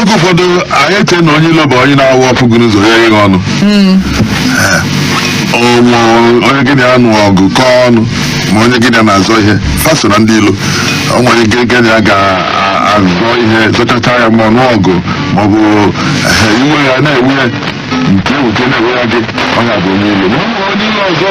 oge ụfọdụ anyị eche na onye ilo bụ onye na-awụ ọ fụ gị n'ụzọ ya ihe ọnụ ọnwụ onye gị na ya nụ ọgụ kọọ ọnụ ma onye gị na ya na-azọ ihe fa so na ndị ilo o nwere onye gị na ya ga-azọ ihe zọchacha ya ma ọnụ ọgụ ma ọ bụ ehe, iwe ya na-ewe ya nke ewuke na-ewe ya gị onye a bụ onye ilo ma ọ bụ onye ilo ọzọ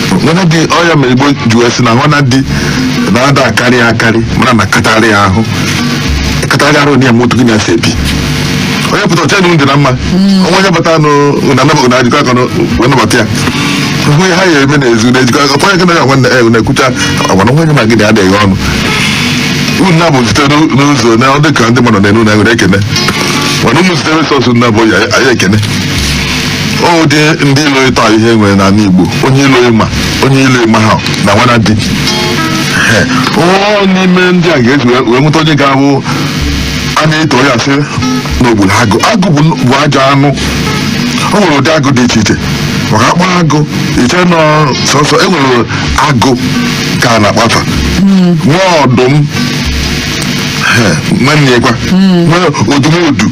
nwanadi ọ ya mere igbo ji wee sị na nwanadi na-ada akarị ya akarị mana na katarị ya ahụ katarị arụ na ya moto gị na ya si ebi onye pụta ọcha dị na mma o nwe onye bata nụ na anabagụ unu ejikọ aka wee nabata ya hụ ihe ha ya eme na-ezu na ejikọ aka kwa onye gị na ya nwanne ya na-ekwucha agwa na nwanne ma gị na adịghị ọnụ unu na-abụ site n'ụzọ na ọ dị ka ndị mmadụ na-enu na nwere ekene mana ụmụ site resọsụ na-abụ ya ekene ọ wụ ụdị ndị ilo ịtọ e nwere na ala igbo onye ilo ị ma onye ilo ị maha na nwanadi Ee, ọ n'ime ndị a ga-esi wee- wee nweta onye ga-abụ a na-eto ya sị na o gburu agụ agụ bụ n- bụ ajọ anụ o nwere ụdị agụ dị iche iche maka a kpa agụ i chee na ọ sọsọ e nwere agụ ka a na-akpa fa nwee ọdụm Ee, nwanne ya kwa nwee odumodu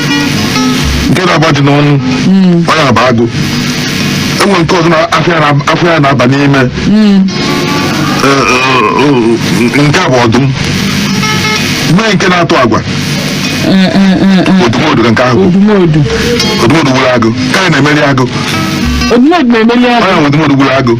nke na-agba ajị n'onu ọ ya bụ agụ e nwere nke ọzọ na- afọ ya na- afọ ya na-aba n'ime Eh, eh, eh, nke a bụ ọdụm mee nke na-atụ agwa odumodu ka nke ahụ bụ. odumodu odumodu gburu agụ ka anyị na-emeri agụ odumodu na-emeli ọ agụ ya nwe odumodu gburu agụ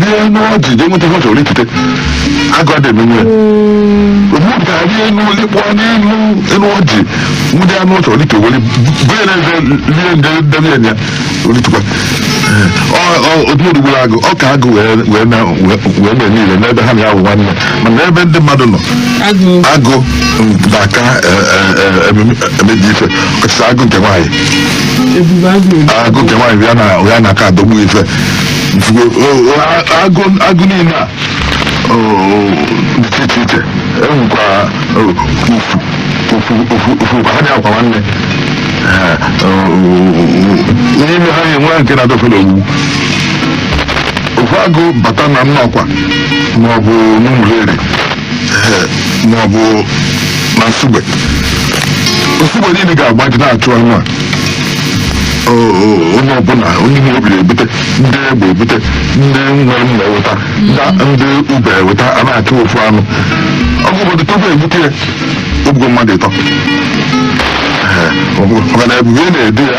rị enu ọjị jee nweta ihe ọ chọrọ ikute agụ adị eme nwe odumodu ga-arị enu likpọ n'elu elu ọjị nwụde anụ ọ chọrọ ike were bee na eze rie nde debe ya o litukwa odumodu gburu agụ ọ ka agụ wee wee na wee mee niile n'ebe ha na-awụ nwanne mana ebe ndị mmadụ nọ agụ agụ na-aka emebi ife ọkachasị agụ nke nwaanyị ebube agụ agụ nke nwaanyị ya na ya na-aka adọgbu ife Ifugo, o, o, a- agụ agụ niile a o, o, dị iche iche iche e nwekwa o, ofu ofu ofu ofu ha na-akwa nwanne Eh, o, o, o, n'ime ha e nwe nke na-adọfere ogbu ofu agụ bata na nnọkwa maọbụ n'ụmụleri maọbụ na nsugbe nsugbe niile ga-agbaji na-achụ anụ a onye ọbụla onye ihe obi ebute ndị egbe ebute ndị nwere mma eweta ndị ube eweta a na-achụ ofu anụ ọ bụ obodo tupu egbute ya o gbugo mmadụ ịtọ maka na ebube na-edu ya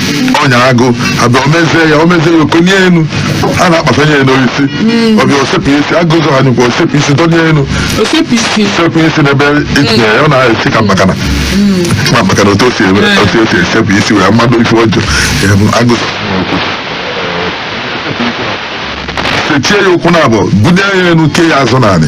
ọnya agụ abịa omezie ya omezie ya okonye enu a na-akpasanye ya n'osisi ọ bịa osepụ isi agụ zọ ha nyekwa osepụ isi donye enu osepụ isi sekwu isi n'ebe itinye ya ọ na-esi ka mkpakana ma maka na otu o si eme otu o si esepụ isi mee mmadụ ife ọjọọ em, agụsị sechie ya ụkwụ na abụọ bunye ya enu kee ya azụ n'anị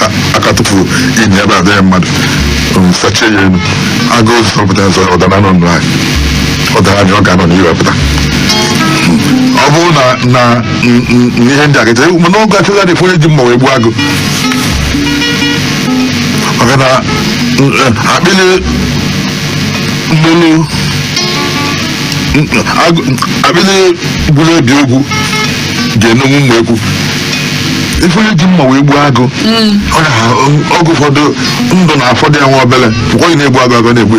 ha aka tụfuru inyi ebe adịghị mmadụ um, sachie ya elu agụ zọ zọpụta ya sọ ọdara nọ nụ anyị ọdara anyị ọ ga-anọ n'ihe pụta ọ bụrụ na na n- n- n- ihe ndị a gacha mana oge achọghị adịfụ onye ji mma wee gbuo agụ maka na n- eh, akpịlị mgbelu n- agụ- akpịlị gburu ebi ogwu ga-enonwu mma ekwu ife onye ji mma wee gbuo agụ ọ na oge ụfọdụ ndụ na-afọdụ ya nwa obele bụkwa onye na-egbu agụ agụ na-egbu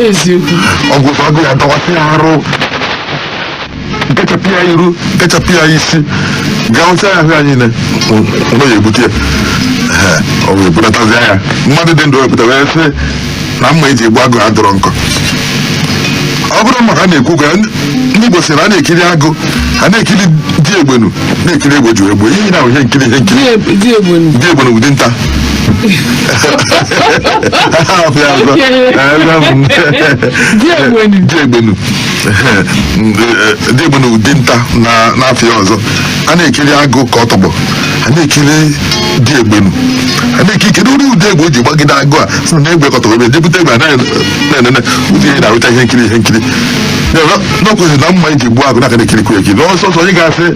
eziokwu oge ụfọdụ agụ ya-adọwasị ya arụ nkechapụ ya iru nkechapụ ya isi gaa ncha ya ahụ ya niile ọ ya-ebute ya Ee, ọ wee bulatazi ya mmadụ dị ndụ wepụta wee sị na mma e ji egbu agụ adịrọ nkọ ọ bụrụ maka na-ekwu ka ndị Igbo sị na a na-ekiri agụ a na-ekiri di egbenu na-ekiri egbe ji egbe ihe na ihe nkiri ihe nkiri di egbenu bụ dinta di egbenu dị bụ na dinta n'afa ya ọzọ a na-ekiri agụ ka ọ tọgbọ a na-ekiri di egbenu a na-ekiri kedu ụdị ụdị egbe o ji gbagide agụ a na-egwekọta ebe jebute egbe anaghị na-enene ụdị ihe na-arụcha ihe nkiri ihe nkiri n'ọkwụzi na mma e ji gbuo agụ n'aka na-ekirikwu ekiri na ọsọ ọsọ onye ga-asị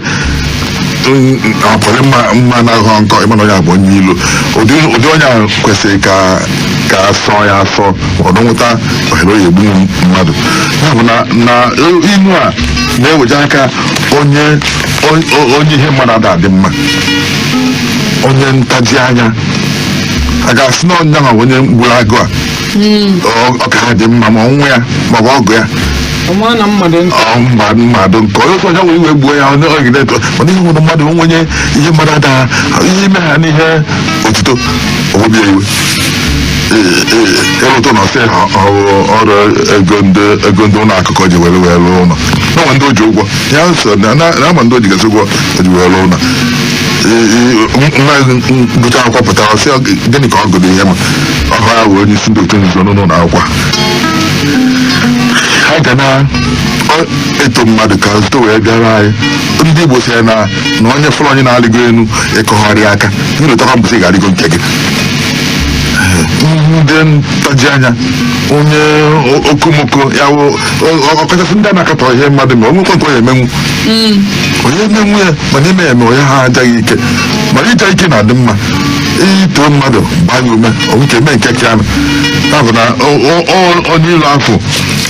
ọpụrụ mma mma na-ahụ nkọ ị ma na onye a bụ onye ilo ụdị ụdị onye ahụ kwesịrị ka ka a sọ ya asọ ọdụ nweta ohere ọ ya-egbu mmadụ ya bụ na na ilu a na-eweje aka onye onye ihe mmadụ ada adị mma onye ntaji anya a ga-asị na onye ahụ onye gburu agụ a Ọ- ọ ka ha dị mma ma nwa ya ma ọ bụ ọgụ ya ọma na mmadụ ntị ọ mba mmadụ nke onye ọzọ ya wee iwe gbuo ya onye ọgide eto mana ihe nwere mmadụ onwenye ihe mmadụ ada ihe ime ha n'ihe otuto obi ya iwe ịrụtụ na ọ sị na ọ bụ ọ bụ ego ndị ego ndị ụlọ akụ ka o ji were rụọ ụlọ na ndị o ji ụgwọ ya so na na- na-ama ndị o ji gasị ụgwọ o ji were ụlọ nwa gụcha akwụkwọ pụta ọ sị gịnị ka ọ gụrụ ihe ma ọ bụ ya wee onye isi ndị otu nzuzo n'ụlọ akwụkwọ ha ga na-eto mmadụ ka zụta wee bịara anyị ndị igbo sịrị na na onye fụrụ onye na-alịgo elu ịkọgharị aka ị lotakwa mbọsị ị ga-alịgo nke gị ndị ntaji anya onye okomoko ya ọkachasị ndị a na-akatọ ihe mmadụ ma o nwekwa nke ọ ya-emenwu onye na-enwe ya mana ime eme onye ha ajaghị ike mana ịja ike na-adị mma i too mmadụ gbaa ya ume o nwee ike eme nke ka ya ya bụ na o- o- o- onye ilo afọ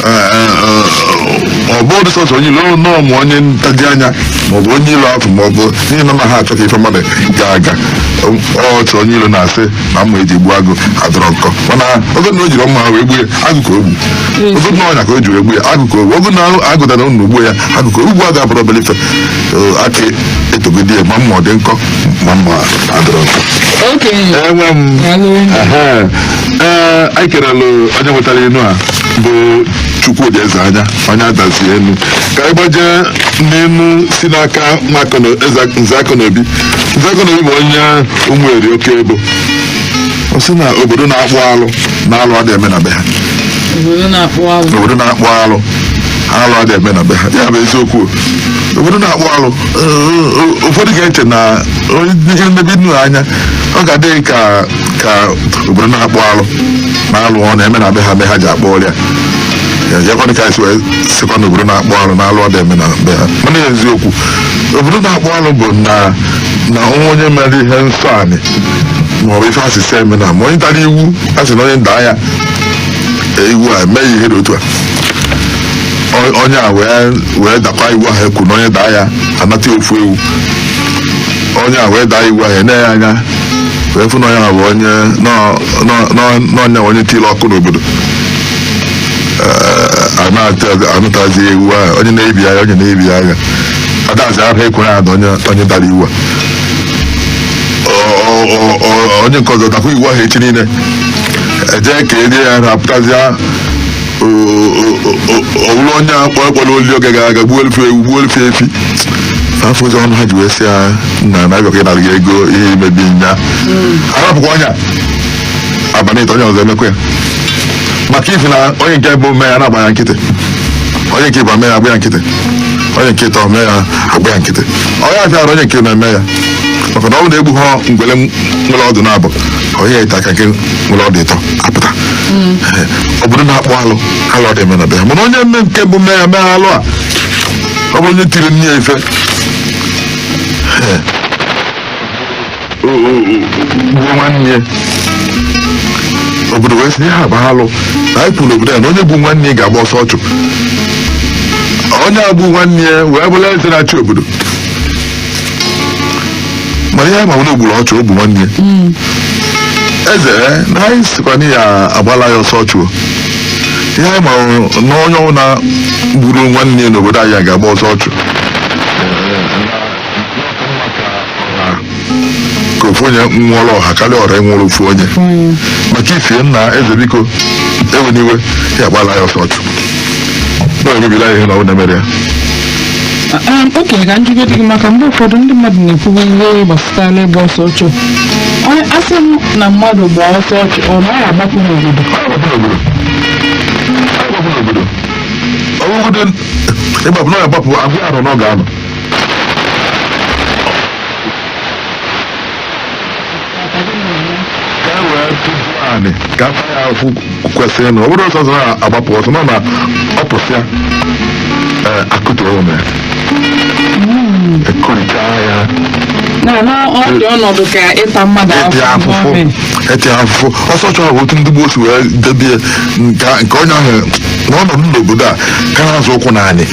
eh, eh, eh, ọ bụdị sọsọ onye ilo ọ nọọ ma onye ntaji anya maọbụ onye ilo afọ maọbụ n'ihi na na ha achọ ka ife mmadụ gaa aga ọ- ọ otu onye ilo na-asị na mma e ji gbuo agụ adịrọ nkọ mana oge na o jiri mma wee gbuo ya agụ ka o gbu oge na ọnya ka o ji wee gbuo ya agụ ka o gbu oge na agụ dara enu gbuo ya agụ ka o gbu agụ abụrọ obere ife Eh, ka e togodi ya ma mma ọ dị nkọ ma mma adịrọ nkọ okenye enwe m Daalụ. Ehe. Ee, anyị kerelụ onye wetara inu a bụ Chukwudi Ezeanya onye Adazi Enu ka anyị gbajee n'inu si n'aka nwa Akụna- Eze- nze Akọnobi Nze Akọnobi bụ onye Ụmụeri Okebo ọ sị na obodo na-akpụ alụ na alụ adịghị eme na be ha obodo na-akpụ alụ obodo na-akpụ alụ alụ adịghị eme na be ha ya bụ eziokwu obodo na-akpụ alụ eh, ụfọdụ ga-eche na onye ihe mmebi nnu anya ọ ga-adị gị ka ka obodo na-akpụ alụ na alụ ọ na-eme na be ha be ha ji akpụ alụ ya ya kwanụ ka anyị si wee sịkwa na obodo na-akpụ alụ na alụ adịghị eme na be ha mana eziokwu obodo na-akpụ alụ bụ na na o nwee onye mere ihe nsọ anị maọbụ ife a sị sị emena ma onye dara iwu a sị na onye daa ya ee, iwu a mee ihe dị otu a O- onye a wee wee dakwa iwu ahụ e kwu na onye daa ya a nata ya ofu ewu onye a wee daa iwu ahụ e nee ya anya wee fụ na onye a bụ onye nọ- nọ- nọ- n'ọnya onye tiri ọkụ n'obodo a natazi ewu ahụ onye na-ebi agha onye na-ebi agha adazi ahụ e kwere na onye dara iwu a onye nke ọzọ dakwa iwu ahụ echi niile eje ka enye ya na apụtazia ọ wụrụ onye akpọ ekpọrọ oli oge gara aga gbuolu fa ewu gbuolu fa efi afọ ụzọ ọnụ ha ji wee sị ya nna na-abịakwa ịnara gị ego ihe i mebi nya a rapụkwa onye a abalị ịtọ onye ọzọ emekwa ya maka ifi na onye nke mbụ mee ya agba ya nkịtị onye nke ịbụa mee ya agba ya nkịtị onye nke ịtọ mee ya agba ya nkịtị onye afịara onye nke ịnọ eme ya maka na ọ bụ na egbu ha ngwele nwere ọdụ naabọ onye ite aka nke nwere ọdụ ịtọ apụta Ee, obodo na-akpọ alụ alụ adị eme na be ya mana onye mme nke mbụ mee ya mee alụ a ọ bụrụ onye tiri nne ya ife Ee, gbuo nwanne ya obodo wee sị ha agbahalụ na anyị kwuru n'obodo a na onye gbu nwanne ya ga-agba ọsọ ọchụ onye a gbu nwanne ya wee bụrụ eze na-achị obodo mana ihe ma onye gburu ọchụ ọ bụ nwanne ya eze eh, na anyị sịkwa na ya agbala ya ọsọ ọchụ o. ihe anyị ma na onye ọbụla gburu nwanne ya n'obodo anyị a ga-agba ọsọ ọchụ ka ofu onye nwụọla ọha karịa ọra nwụọla ofu onye maka ifi ya nna eze biko ewena iwe ya agbala ya ọsọ ọchụ na emebila ihe na ọ na-emere ya Ee, okenye kedụzi ka ọ dị gị maka mgbe ụfọdụ ndị mmadụ na-ekwubu ihe gbasara ịgba ọsọ ọchụ Onye- asị m na mmadụ gba ọsọ ọchụ ọ naghị agbapụ n'obodo ọgụgụ dị ịgbapụ na ọ ga-agbapụ a gwa ya arọ one ọ ga-anọ anị ka a gbaa ya akwụ kwesịrị na ọ bụrụ ọ sọ ya agbapụ ọ sọ ya nọ na ọ pụsịa ee akụtuo be ya akụricha ya na na ọ dị ọnọdụ ka ịta mmadụ eti afụfụ afụfụ n'ọmị. eti afụfụ ọsọ ọchụ bụ otu ndị gboo si wee debie nke nke onye ahụ na ọ nọdụ n'obodo a ka na-azọ ụkwụ n'anị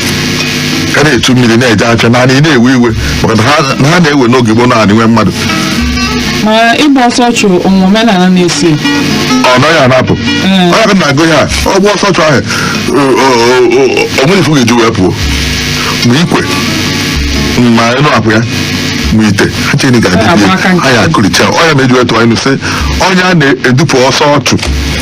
ka na-echu mmiri na-eje afịa na anị na-ewe iwe maka na ha- na ha na-ewe n'oge gboo na anị nwe mmadụ ma ịgba ọsọ ọchụ o nwe omenala na-esi ọ naghị anapụ Mm. onye ka na-agụ ya ọ gba ọsọ ọchụ ahụ o- o- o- o- o nwere ife ọ ga-eji wee pụọ ma ikwe ma ịnụ akwụ ya ma ite ha cheni ga-adịbi Agba aka nke anyị akụlicha ọnya na-eji wetụ anyị sị onye a na-edupụ ọsọ ọchụ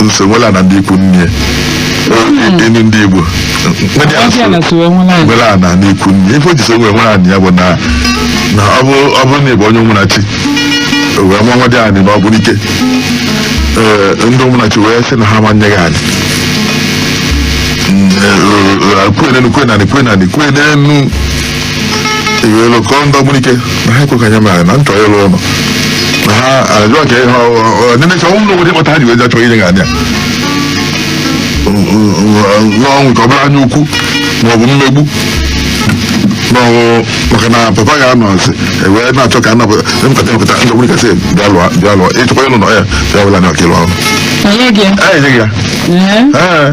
na-eso nwere ana na ikwu nne enu ndị Igbo ndị a ọbịa na so sowe nwelu anị nwere ana na ikwu nne ife o ji so wee nwere ana ya bụ na na ọ bụ ọ bụrụ na ị bụ onye Ụmụnachi wee nwa nwa dị anị na ọ bụrụ ike ee ndị Ụmụnachi wee sị na ha ma nye gị anị kwenenu kwenani kwenani kwenenu iwelu kọọ ndị ọgbunike na ha ekwe ka anya mere na nchọ ịrụ ụlọ na ha ajụọ ka ihe ọdịnicha ọnwụ na obodo kpọta ha ji wee jachọ ihe ga-adị n'ọnwụ ka ọ bụrụ anya ukwu ma ọ bụ mmegbu n'ọnwụ maka na papa ya nọ nsị ewee na-achọ ka anapụta mpụta mpụta ndị ọgbunike sị bịa lụọ bịa lụọ ịchọkwa ịlụ ụnọ ya bịa wela ana ọka ịlụ ọrụ Onye gị? anyị nyeghị ya Ee. ee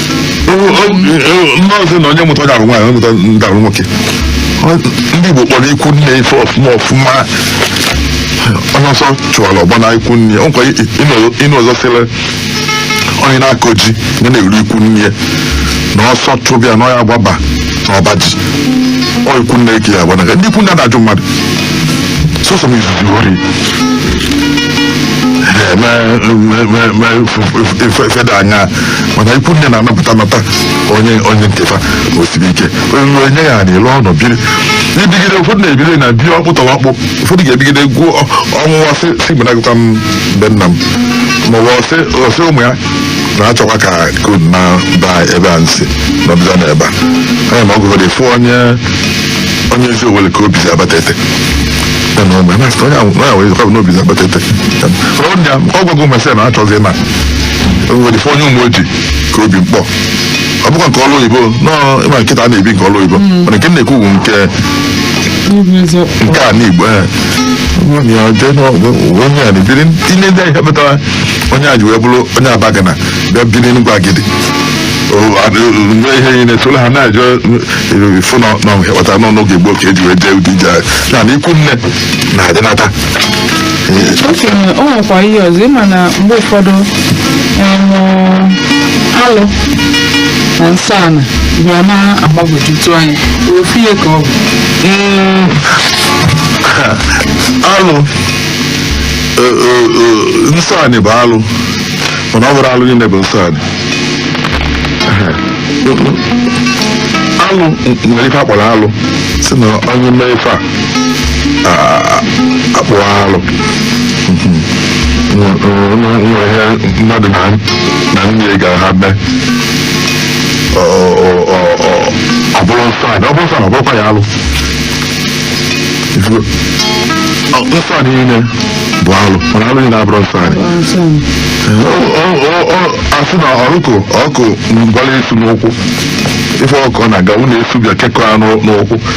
maazị na onye mụta ga-abụ nwaanyị onye mụta ga-abụ nwoke Ọ- ndị Igbo kpọrọ ikwu nne ife ọfụma ọfụma onye ọsọ chụwara ọ gbaa na ikwu nne ya nwekwa inu ọzọ sịrị onye na-akọ ji ya na-eru ikwu nne ya na ọsọ chụba ya na ọ ya-agbaba na ọba ji ọ ikwu nne ka ọ ya-agbanaga ndị ikwu nne na-ajụ mmadụ sọsọ m izuzu ori feda anya mana ikwu nne na-anapụta nata onye onye nke fa ma o siri ike onye ruo nye ya anị lụọ ụnọ biri ibigide ụfọdụ na-ebide na bie ọkpụ tọrọ ọkpụ ụfọdụ ga-ebigide gwuo ọ- ọ nwụwa sị si mgbe nagụta m be nna m ma ọ bụ ọsị ọsị ụmụ ya na-achọkwa ka kod na ba ebe a nsị nọdụza na ebe a anya ma ọ gụgọdị fụ onye onye ezi owele ka obi si abata ete ya na ụmụ ya na-asị onye ahụ onye ahụ ezekwa bụ n'obi si abata ete ọ bụ ya ọ gwago mesịa na achọzi na enwere ife onye ụmụ ojii ka obi mkpọ ọ bụkwa nke ọrụ oyibo nọọ ị ma kịta a na-ebi nke ọrụ oyibo mana nke m na-ekwu bụ nke N'ịbụ eziokwu. nke ana Igbo ee. Onye a jee n'ọ- onye a na-ebiri tinye ndị ahịa metara onye a ji wee bụrụ onye Abagana bịa biri n'Enugwu Agidi O, a- o- mee ihe niile tụrụ ha na-ajụ ife na na ọ kpatara n'ọnụ oge gboo ka eji wee jee ụdị ije a. na na ikwu nne na-adịnata o sị na o nwekwa ihe ọzọ ị ma na mgbe ụfọdụ em, alụ na nsọ ana bịa na-agbagwojutu anya ofu ihe ka ọ bụ Mm, alụ eh, eh, eh, nsọ anị bụ alụ mana ọ bụrọ alụ niile bụ nsọ anị alụ nwere ife a kpọrọ alụ sị na onye mee ife a a kpụa alụ ihe mmadụ na nne ga ha mee ọ bụrụ nsọ anị ọ bụrụ nsọ anị ọ bụrụkwa ya alụ nsọ anị niile bụ alụ mana alụ niile abụrọ nsọ anị a sị na ọkụkọ gbala esu n'ụkwụ ife ọkụkọ na-aga ụlọ esu bịa kekọ ya n'ụkwụ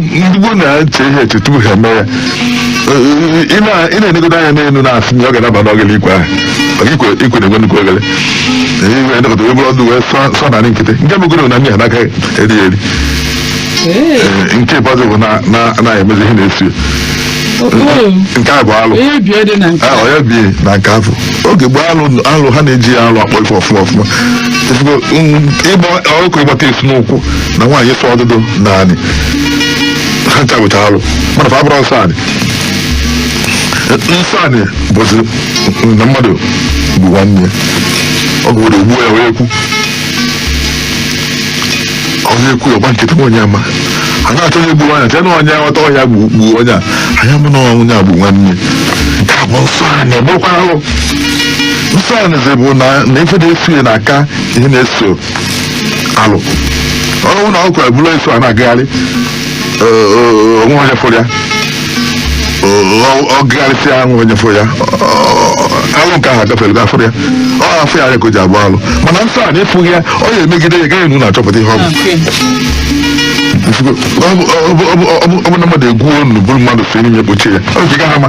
ndị gboo na-eche ihe eche tupu ha eme ya ị na- ị na-enegodo anya n'elu na-asị na ọ ga-adaba n'oghele ikwe ahụ maka ikwe ikwe na-enwe nnukwu oghele i wee nekọta wee buru ọdụ wee sụọ sụọ n'anị nkịtị nke megoro na ndị ha n'aka eri ya eri Ee, Ee, nke ikpeazụ bụ na- na- na-emezi ihe na-esi ya. oo, nke a bụ alụ ihe bie dị na nke a onye bi na nke afọ oge gboo alụ alụ ha na-eji ya alụ akpọ ife ọfụma ọfụma Ezigbo, mm, ịgba ọkụ ịgbata esi n'ụkwụ na nwaanyị ịsụ ọdụdụ n'anị ha ncha bụcha alụ mana fa abụrọ nsọ anị nsọ anị bụzi na mmadụ gbuo nwanne ya. ọ gụwere ugbu ya wee kwu onye ekwu ọ gbaa nkịtị nwa onye ama a na-achọ onye gburu anya tena onye aghọta ọ ya gbu gbuo onye a anya mụ na onye a bụ nwanne nke a bụ nsọ anị ọ bụrụkwa alụ nsọ anị zi bụ na na ife na-eso ya na-aka ihe na-eso alụ ọnwụ na ọkụ ebulu eso a na-agagharị o- o- o nwe onye fụrụ ya ọ gagharịsịa enwe onye fụrụ ya alụ nke ahụ agafere ga afụrụ ya ọ afụ ya ka o ji abụ alụ mana nsọ anị afụghị ya ọ ya emegide ya gaghị na achọpụta ihe ọ bụ Okay. Ọ bụ- ọ bụ- ọ bụ- ọ bụ- ọ bụ na mmadụ egwuo ọnụ buru mmadụ si n'ime kpochie ya ọ ga-ama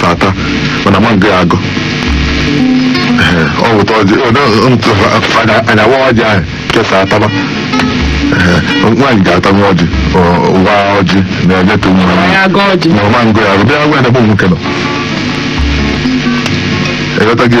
tata mana ma ngọ ya agọ o wota ọjị a ya-awa ọjị ahụ kesa ataba nwaanyị ga-ata nwa ọjị wa ọjị na-enyetụ nwa Nwaanyị agọ ọjị. ma ma ngọ ya bịa nwa ya bụ nwoke nọ ị ghọtago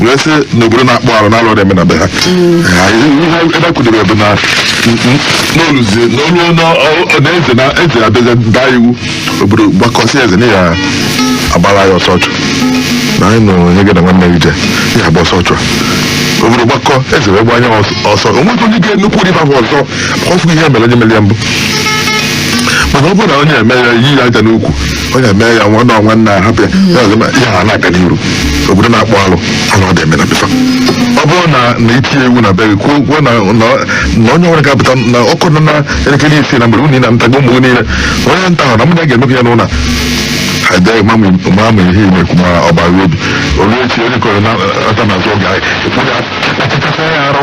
wee sị na obodo na-akpọ arụ na alụ adịrọ eme na be ha Ha- ihe ebe a kwudebere bụ na n'oluzi na onye na- ọ- ọ- na eze na eze abịazi daa iwu obodo gbakọ sị eze na ya agbara ya ọsọ ọchụ na anyị nụrụ onye gị na nwanne gị je ya agba ọsọ ọchụ a obodo gbakọ eze wee gbanye ya ọsọ- ọsọ o nwekwa onye ga-emekwu ụdị ahụ ọzọ ọ fụ ihe mere onye mere ya mbụ mana ọ bụrụ na onye eme ya yi ya aja n'ukwu ọ ya mee ya nwanne ọ nwanna ahapụ ya ya ọzọ ma ihe a na-aga n'iru obodo na-akpọ alụ alụ adị eme na be fa ọ bụrụ na na i tinye iwu na be gị kwuo kwuo na na na onye nwere ga-apụta na ọ kụọ na elekere isii na mgbede unu anatago ụmụ gị niile na onye nataghị na mụ na ya ga-emekọ ya n'ụlọ ha dee ma ma ihe ị na-ekwu ma ọ bara obi o lue echi onye kọrọ nata n'azụ oge anyị ekwu ya kpachachasịa ya arụ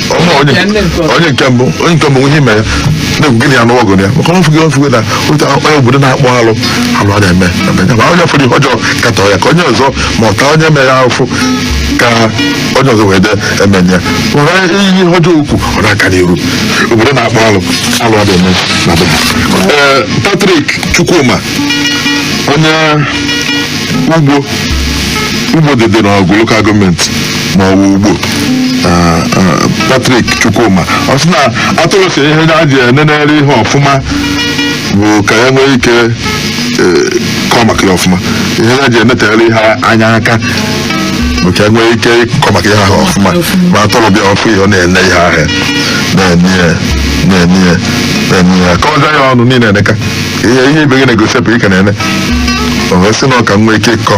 Ọma onye Ya nne nke ọzọ. onye nke mbụ onye nke mbụ ihe mere na-ekwu gịnị ya n'ọgụ ya maka ọ fụghị ọ fụghị na otu onye obodo na-akpọ alụ alụ a na-eme eme. Ya bụ, onye fụrụ ihe ọjọọ katọọ ya ka onye ọzọ ma ọta onye mere ya afụ ka onye ọzọ wee de emenye were ihe ọjọọ okwu ọ na-aga n'iru obodo na-akpọ alụ alụ a na-eme na be ha. Ee, Patrick Chukwuma onye Ugbo Ugbo dị dị n'Awgu lokal gọọmenti ma ọ bụ ugbo Ah, ah, Patrick Chukwuma ọ sị na atụrụ sị ihe ya ji enenere ihe ọfụma bụ ka ya nwee ike eh, kọọ maka ya ọfụma ihe ya ji enetere ihe anya aka bụ ka ya nwee ike ịkọ maka ihe ahụ ọfụma ma atụrụ bịa ọ fụ ihe ọ na-ene ihe ahụ na-ene ya na-ene ya na-ene ya kọọza ya ọnụ niile eneka ihe ihe ibe gị na-egosipụ ị ka na-ene o wee sị na ọ ka nwee ike ịkọ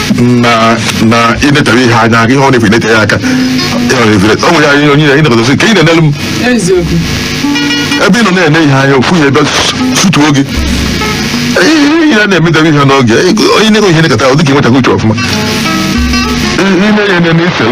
na na inetere ihe anya ihe ọ na-efu inete ya aka ihe ọ na-efu inete- o nwere anyị onye anyị nọgọdọ sị ka ị na-enelu m eziokwu ebe ị nọ na-ene ihe anya ofu ya ebe sutuo gị ihe ihe a na-emedebe ihe n'oge onye na-enwe ihe nekọta ọ dịka enwetaghị uche ọfụma ihe na-enye n'isel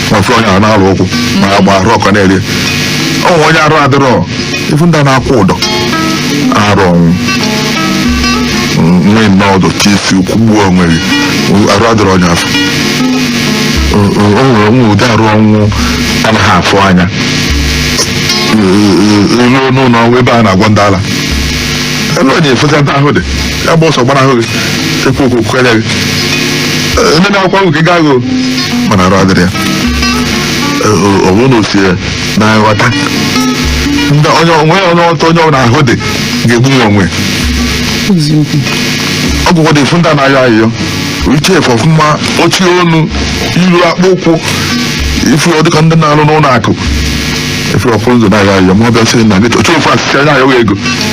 ma fụrụ onye ahụ na-alụ ụkwụ ma ya gba arụ ọkọ na-eri ọ nwere onye arụ adịrọ ị fụ ndị a na-akwụ ụdọ arụ ọnwụ nwee nnọọ ụdọ tie isi kwụgbuo onwe gị arụ adịrọ onye afụ o nwere onwe ụdị arụ ọnwụ anaghị afụ anya ruo n'ụlọ ọgwụ ebe a na-agwọ ndị ala ebe ọ na-efesa ndị ahụ dị ya gba ọsọ gbanahụ gị ekwu okwu kwere gị Ee, ndị na-akwa ahụ gị gaa gị mana arụ adịrọ ya Ee, o- ọ bụrụ na o si ya na nghọta ndị onye onwe onye ọtọ onye ọbụla ahụ dị ga-egbu nwa onwe eziokwu ọgwụgwọ dị ị fụ ndị a na-ayọ ayịyọ yiche efe ọfụma ochi ọnụ iru akpụ ụkwụ ị fụ ọ dịka ndị na-arụ n'ụlọ akụ efe ọ pụ n'ụzọ na-ayọ ayịyọ ma ọ bịa sị na gị oche ofu asịsị na-ayọ gị ego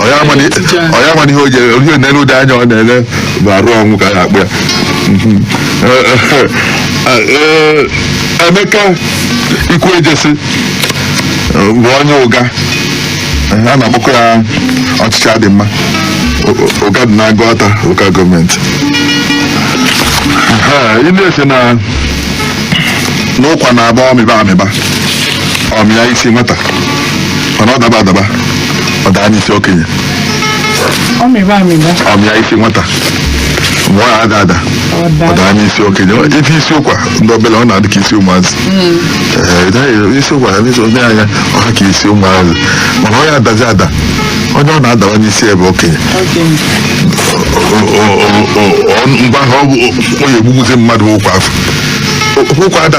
Ọ ya ama na- ọ ya ama na ihe o ji ele ihe na-ele ụdị anya ọ na-ele bụ arụ ọnwụ ka a na-akpọ ya Mhm. Eh, eh, eh, eh, Emeka Ikwuejesi eh, bụ onye Ụga Eh, a na-akpọkọ ya ọchịchị adị mma O- o- Ụga dị n'Aguata lokal gọọmenti Eh, ị na-asị na na ụkwa na-abụ ọ mịba amịba ọ mịa isi nwata mana ọ daba adaba ọ daa n'isi okenye ọ mịba amịba ọ mịa isi nwata mgbe ọ ada ada ọ ọ daa daa n'isi okenye ite isi ụkwa ndị obele ọ na-adị ka isi ụmụazị Ee, ị gaghị- isi ụkwa ya n'isi onye anya ọ ha ka isi ụmụazị mana ọ ya-adazi ada onye ọ na-adawa n'isi ebe okenye okenye O- o- o- o- o- mgbe ahụ ọ bụ o- o ya egbugbuzi mmadụ ụkwa afụ ụkwa ada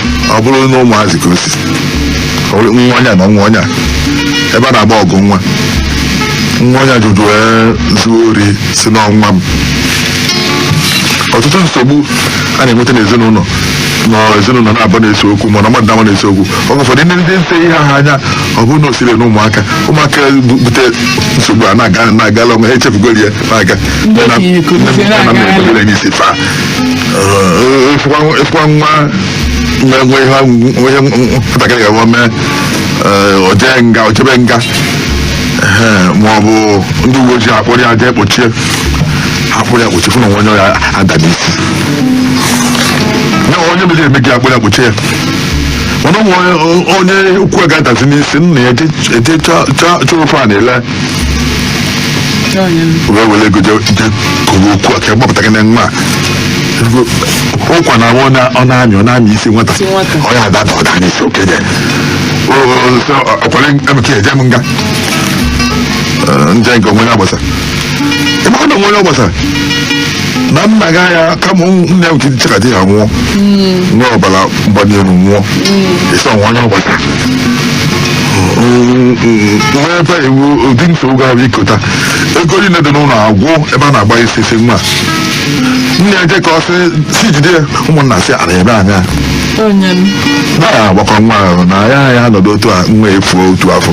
ọ bụrụ na ụmụazị ka o si ọ bụrụ nwa onye a na nwa onye a ebe a na-agba ọgụ nwa nwa onye a jụjụ wee zuo ori sị na ọ nwa m ọtụtụ nsogbu a na-enweta n'ezinụlọ na ezinụlọ na-abụ na-ese okwu mana mmadụ na mmadụ na-ese okwu oge ụfọdụ ndị ndị nete ihe a anya ọ bụrụ na o siri na ụmụaka ụmụaka bu- bute nsogbu a na-aga na-agala ụmụaka echefugoro ya na-aga Ndị okenye kụziere Nne m- nna m aga- na-ebere anyị isi faa Ee, ịfụkwa ịfụkwa nwa na-enwe ihe ahụ- ihe nwatakịrị ga-enwe mee ee, o jee nga o jebe nga Ee, ma ọ bụ ndị uwe ojii akpọrọ ya jee kpochie ha kpọrọ ya kpochie fụ na o nwe onye ya ada n'isi na onye mere eme gị akpọrọ ya kpochie ya mana ụmụ onye onye ukwu ga-adazi n'isi nna ya eje chọọ ife a na-ele wee were ego je je kụrụ okwu a ka gbapụta gị na nwa a ụkwa na ọ na- ọ na-amị ọ na-amị isi nwata Isi nwata. ọ ya ada ada ọ daa n'isi okenye O- o- sị, ọ- ọ kwere Emeka eje m nga Eh, nje nke onwe ya gbasa ịmara na onwe ya gbasa na nna gị anya kama ụmụ- nne m tiri chekadị ya nwụọ nwee ọbara mgbali elu nwụọ ị sị o nwe onye ọ gbasa nwee ebe iwu ụdị nsogbu ga-abụ ikota ego niile dị n'ụlọ agwụ ebe a na-agba isi isi nwa nne ya je ka ọ sị si jide ya ụmụnna sị ana ebe anya onye m na ya agbakọ nwa ahụ na ya ya nọdụ otu a nwa efuo otu afọ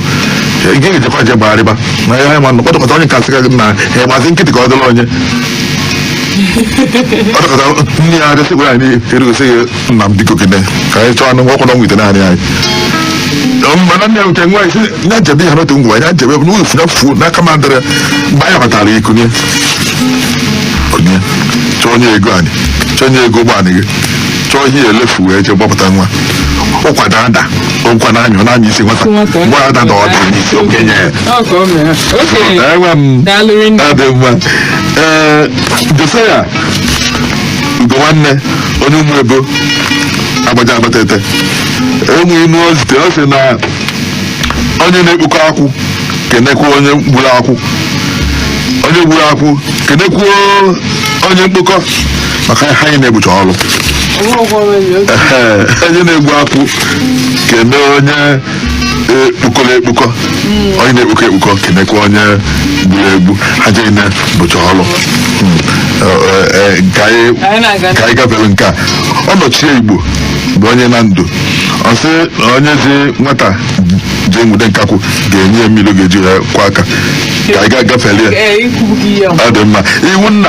ị ga-ejekwa je gbagharịba na ya ma nọ kpọtọkọta onye kasị ka gị na ya gbazi nkịtị ka ọ dịrị onye kpọtọkọta nne ya adịsị gwara anyị erugosị gị nna m biko gịnị ka anyị chọọ anụ ọkwụ na nwite naanị anyị mana nne ya nke nwa isi nya jebe ya n'otu ngwa ya jebe bụ n'ụlọ funa fuo n'aka ma dịrị mgbe anyị batara ya kunye kunye chọọ onye ego anyị chọọ onye ego ụgbọ anyị ji chọọ ihe elefu wee jee gbapụta nwa ụkwa na-ada ụkwa na anyụ na anya isi nwata Nwata. mgbe ada na ọ daa n'isi okenye ya Ọ ka o mere. Okenye. enwe m Daalụ rinne. ọ dị mma ee Josiah Ugonwanne onye Ụmụebo Agbaja Abatete nwe inu o zite ọ sị na onye na-ekpokọ akwụ kenekwa onye gburu akwụ onye gburu akwụ kenekwuo onye mkpokọ maka ha niine bụcha ọrụ Ehe, onye na-egbu akwụ kene onye kpokọrọ ekpokọ onye na-ekpokọ ekpokọ kenekwa onye gburu egbu ha niine bụcha ọrụ Mm. Eh, eh, nke anyị Anyị na-aga. ka anyị gafere nke a Onochie Igbo bụ onye Nando ọ sị na onye zi nwata jee nwude nkakwụ ga-enye ya mmiri ọ ga-eji akwọ aka ka anyị ga-agafere ya Ee, e kwugo ya. ọ dị mma iwu nna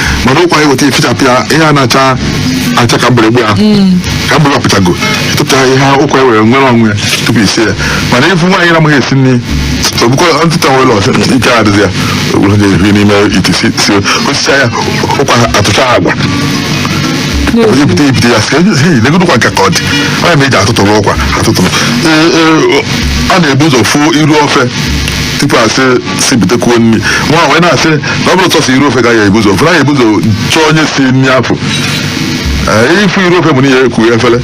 mana ụkwa e weta efichapụ ya ihe a na-acha acha ka mgbịrịgba ya ka mgbịrịgba pụchago ịtụpụta ihe ụkwa ewere nwere onwe ya tupu i sie ya mana ịfụ nwaanyị na-amaghị esi nri ogbukọ ntụta nwere ọsị ike adịzi ya o buru ga-ehi n'ime ite si si o sicha ya ụkwa atụcha agwa onye bute e bute ya sị "Hey, legodu ụkwa nke ka ọ dị onye ma eji atụtụrụ ụkwa atụtụrụ Ee, ee, a na-ebu ụzọ fụ iru ofe tupu asị si butekwuo nri nwa wee na-asị na ọ bụrụ sọsọ iru ofe ka ya ebuzo ofe na ya ebuzo chọọ onye si nri afọ Ee, ịfụ iru ofe bụ na ya ekwu efere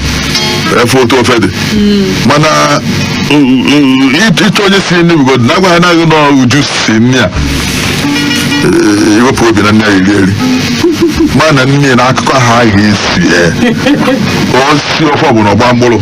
efe otu ofe dị mana u- u- ịchọ ịchọ onye si nri bụgodu na agwa ha naghị na uju si nri a Ee, iwepụ obi na nne ya iri eri ma na nne na akụkọ ha ga-esi ee o si ofe ọbụla ọgba mkpụrụ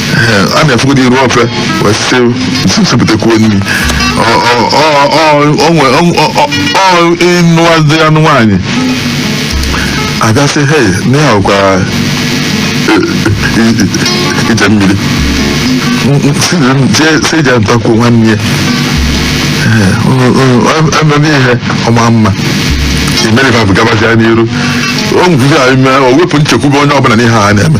Eh, a na-afụgodi iru ofe wee sị si butekwuo nri Ọ- ọ- ọ- ọ- ọ nwe- ọ- ọ- ọ- ọ ịnụwazi anụ nwaanyị a ga-asị he na ya ọkwa ije mmiri si ije ntakwuo nwanne ya Eh, ọ- ọ- ọ- ememe ihe ọma mma imerifabụ gabazia n'iru o nwere ihe a ime o wepụ nchekwube onye ọbụla n'ihe a na-eme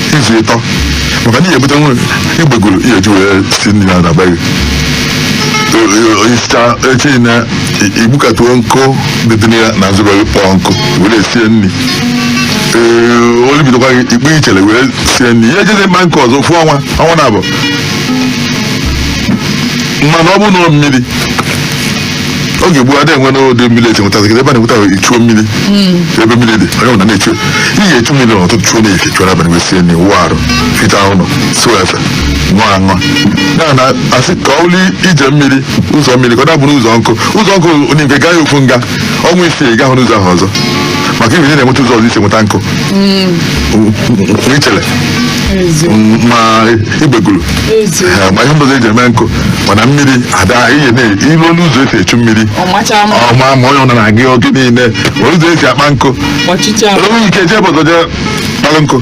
izu ịtọ maka na ị ya-ebute nwe igbegulu ị ya-eji wee sie nri na na be gị isicha echi na igbukatuo nkụ dị dị na ya n'azụ be gị kpọọ nkụ were sie nri ee onye bidokwa gị ikpe ichere were sie nri ị ya-ejezi mkpa nkụ ọzọ ofu ọnwa ọnwa naabọ mana ọ bụrụ na ọ mmiri oge gboo adịghị enwe n'ụdị mmiri eji nweta ebe a na-enweta ichuo mmiri ebe mmiri dị onye ọbụla na-echu ị ga-echu mmiri n'ụtụtụ chuo n'efifie chuo n'abalị wee sie nri wụọ arụ fichaa ụlọ sụọ efe ṅụọ aṅụ ya na asị ka ọ bụrụ ije mmiri ụzọ mmiri ka ọ dabụrụ ụzọ nkụ ụzọ nkụ i nwe ike gaa ya ofu nga ọnwa isii ị gahụ n'ụzọ ahụ ọzọ maka ebe ị na-enweta ụzọ ọzọ i si enweta nkụ ichere ma igbegulu ma ihe ọzọ eji eme nkụ mana mmiri ada ihe na-ilu ọnụ ụzọ esi echu mmiri ọ machaa mma ọma ma onye ọbụla na-aga ya oge niile ma ụzọ esi akpa nkụ ọchịcha i nwe ike jee ebe ọzọ jee kpalụ nkụ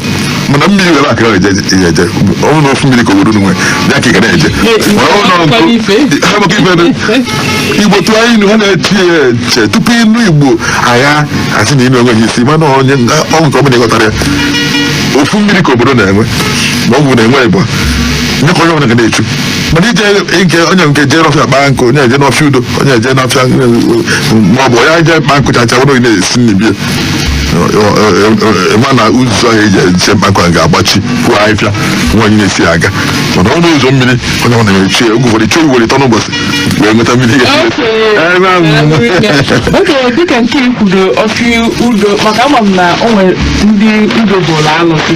mana mmiri were aka eje ya eje ọ bụrụ na ofu mmiri ka obodo unu nwere ya ka ị ga na-eje Igbo Mana ọ bụrụ na akwụkwọ ife. nkụ- ha bụ ka ife dị. igbo tụọ anyị ilu ha na-eche ya eche tupu inu igbo a ga-asị na inu enweghị isi mana onye ọgwụ nke ọ bụla ịghọtara ya ofu mmiri ka obodo na-enwe ma ọ bụ na-enwe ịgba nye ka onye ọbụla ga na-echu mana ije nkụ i nwe ike jee n'ọfịa kpaa nkụ onye eje n'ọfịa udo onye eje n'ọfịa ma ọ bụ onye eje kpaa nkụ chacha were na-esi nri ma na ụzọ ahụ eji eje mkpa nkụ ga-agbachi puo ahịfịa enwe onye na-esi aga mana ọnụ ụzọ mmiri onye ọbụla na-echu ya oge ụfọdụ chuo ugboro ịtọ n'ụbọchị wee nweta mmiri ga oge dịka nke i kwulu ọfịa udo maka ama m na o nwere ndị udo bụrụ alụsị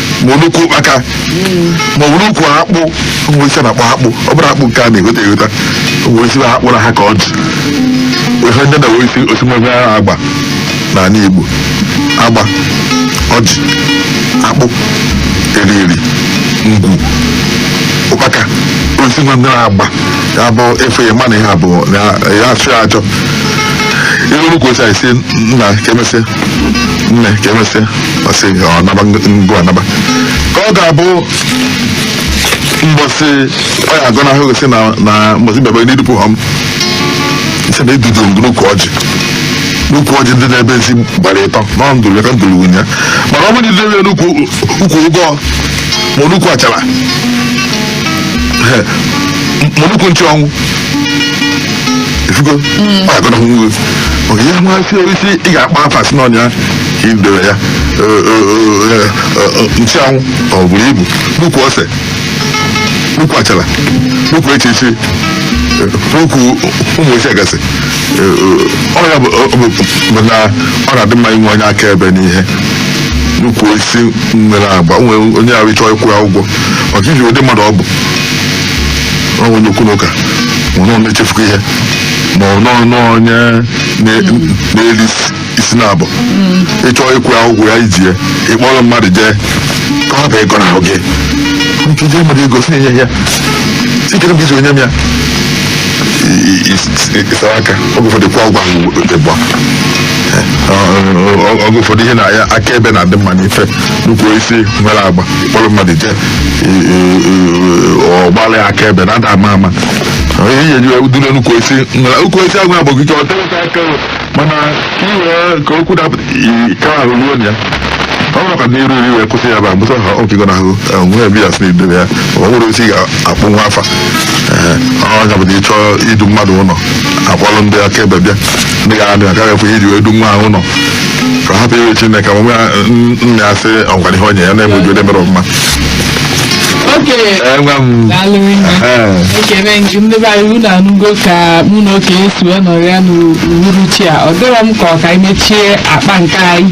ma ọ n'ukwu ụkpaka ma ọ n'ukwu akpụ o nwe osisi na-akpọ akpụ ọ bụrọ akpụ nke a na-egota egota o nwe osisi na akpụrụ ha ka ọ dị ihe ndị na-enwe isi osisi nwere agba n'ala Igbo agba ọjị akpụ eriri ngwu ụkpaka osisi nwe ndị na-agba ya bụ ife ya mana ihe abụọ na ya achụ ya achọ ihe n'ukwu osisi anyị si nna ka emesịa nne ka emesịa ọ sị ya ọ naba ngọ anaba ka ọ ga-abụ mbọsị ọ ya agọnahụ gị sị na na mbọsị bịaba n'idupụ ha m sị na edobe ngọ n'ukwu ọjị n'ukwu ọjị dị n'ebe ezi gbara ịtọ na ọ ndụrụ ya ka ndụrụ nwunye ya mana ọ bụrụ na idebe ya n'ukwu ukwu ụgọ ma ọ n'ukwu achara ma ọ n'ukwu nchụanwụ ifugo ma agọnahụ nwe onye nwa osisi ị ga-akpọ afa sị n'ọ ya ka idebe ya nchụanwụ ọ bụrụ ibu n'ukwu ose n'ukwu achara n'ukwu echichi n'ukwu ụmụ osisi gasị ọ ya bụ na ọ na-adị mma inwe onye akaebe n'ihe n'ukwu osisi nwere agba nwere onye ahụ ịchọ ịkwụ ya ụgwọ maka iji ụdị mmadụ ọ bụ ọ bụ onye okwu na ụka ma ọ na-echefuka ihe ma ọ nọ nọ onye na- na-eri isi- isi na-abụ ịchọ ịkwụ ya ụgwọ ya iji ya ịkpọrọ mmadụ jee ka ọ hapụ ịgọnahụ gị nke i ji mmadụ ego si enye ya sikere m iji onye m ya ịsara aka oge ụfọdụ ịkwụ ụgwọ ahụ ịgba oge ụfọdụ ihe na ya akaebe na-adị mma n'ife n'ukwu osisi nwere agba kpọrọ mmadụ jee ọ gbaa akaebe na ada ama ama onye ihe ji dule n'ukwu osisi nwere n'ukwu osisi agba agbọgụ ike ọ dịrịta aka o. mana ka i wee ka okwu dapụta i- ka ahụ ruo na ya ọ bụrụ ka n'iru iri wee kwụsị ya bụ agbụsọ ha ọ ga-agọnahụ nwere ebe ya sị n'idebe ya ọ nwere osisi ga-akpọnwu afa Ee, ọ ya bụ na ịchọ idu mmadụ ụlọ akpọrọ ndị akaebe bịa ndị ga anụ agaghị ekwe iji wee du nwa ahụ ụlọ ka ọ hapụ iwe chineke ma nwa ya n- nna ya sị ọ gwara ihe onye ya na-enwe uju mere ọfụma okenye Ee, nwa m daalụ nne ee, ekene gị ndị be anyị unu anụgo ka mụ na okenye si wee nọrọ ya n'uhuruchi a ọ dịrọ m ka ọ ka anyị mechie akpa nke anyị